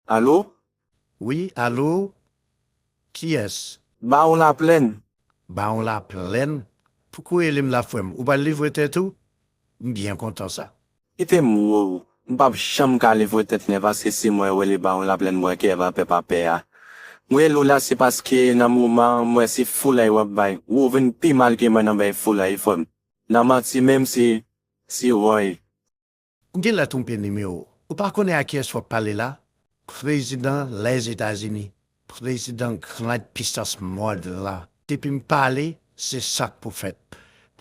Alo? Wi, alo? Kiyès? Bawon Laplèn. Bawon Laplèn? Pouki w rele m la frè m? Ou pral livre tèt ou? M byen kontan sa. Kite m wè w. M pa p janm ka livre tèt mwen paske si mwen rele Bawon Laplèn m wè kè va pè pa pè a. M rele w la se paske nan moman an m wè se foulay w ap bay. Ou ou vin pi mal ke mwen nan bay foulay frè m. Nan manti menm si, si woy. Ou genlè twonpe nimewo. Ou pa konnen a kiyès wap pale la? Prezidan Lèzetazini, prezidan grand pisans mond lan. Depi m pale, se sak pou fèt.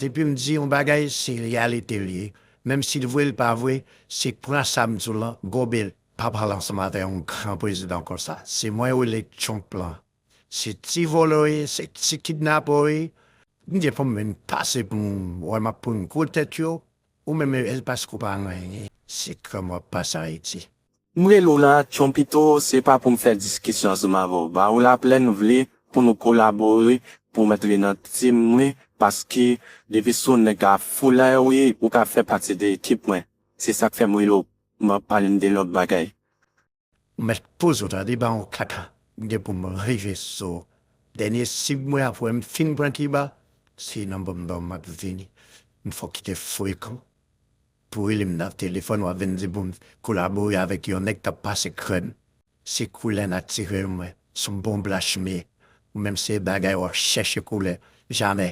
Depi m di yon bagay, se reyalite l ye. Menm si l vre l pa vre, se pran sa m di w lan, gobe l. Pa pale ansanm avè yon gran prezidan konsa. Se mwen ou rele Trump lan. Se ti vòlè w ye, se ti kidnapè w ye. M gen pou m vin pase pou m wè m ap pran gwo tèt yo, Ou menm El Pasko pa anyen se krèm wap pase Ayiti. M rele w nan aksyon pito, se pa pou m fè diskisyon ansanm avè w. Ba w la plè n vle pou nou kolabore pou w antre nan team mwen paske depi sou nèg la foulay w ye ou ka fè pati de ekip mwen. Se sa k fè m rele w m ap pale n de lòt bagay. Ou mèt poze w tande ba yon kaka m gen pou m rive sou w dènye sib mwen apre m fin pran kiba se nan bannanm m ap vini m fòk kite frekan pou rele m nan telefòn w ap vin di pou m kolabore avèk yon nèg k ap pase krèm se koulè natirèl mwen s on bon blachmye ou menm se bagay w ap chèche koulè jamè